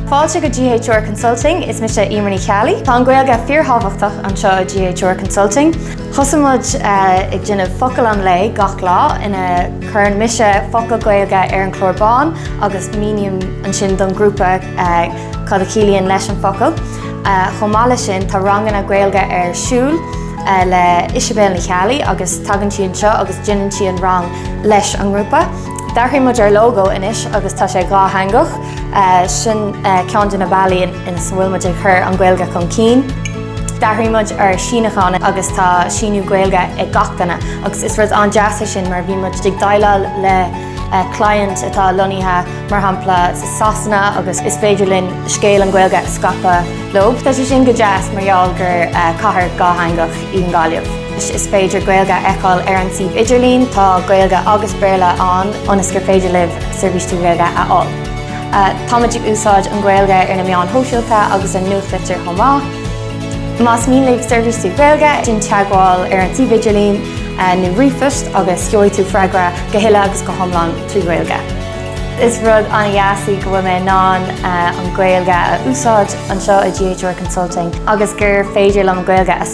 Fáilte go GHR Consulting, is mise Emer Ní Cheallaigh. Tá an Ghaeilge fíorthábhachtach anseo i GHR Consulting. Thosaigh muid eh, ag déanamh focal an lae gach lá ina chuireann mise focal Gaeilge ar an chlár bán agus míním ansin don grúpa eh, cad a chiallaíonn leis an focal. Eh, Chomh maith leis sin tá ranganna Gaeilge ar siúl eh, le Isabel Ní Cheallaigh agus tagann sí anseo agus déanann sí an rang leis an ngrúpa. D'athraigh muid ár lógó anois agus tá sé dhátheangach. Sin ceann de na bealaí ina bhfuil muid ag cur an Ghaeilge chun cinn. D'athraigh muid ár síniúchán agus tá síniú Gaeilge ag gach duine agus is rud an-deas é sin má bhíonn muid ag déileáil le client atá lonnaithe mar shampla i Sasana agus is féidir linn scéal an Ghaeilge a scaipeadh leo. Tá sé sin go deas mar gheall gur cathair dhátheangach í an Ghaillimh. Is féidir Gaeilge a fheiceáil ar an suíomh idirlín, tá Gaeilge agus Béarla ann ionas gur féidir libh seirbhís trí Ghaeilge a fháil. Táimid ag úsáid an Ghaeilge ar na meáin shóisialta agus an nuachtlitir chomh maith. Más mian libh seirbhís trí Ghaeilge, déan teagmháil ar an suíomh idirlín nó ríomhphost agus gheobhaidh tú freagra go huile agus go hiomlán trí Ghaeilge. Is rud an-deas í go bhfuil mé in ann an Ghaeilge a úsáid anseo i GHR Consulting agus gur féidir liom Gaeilge a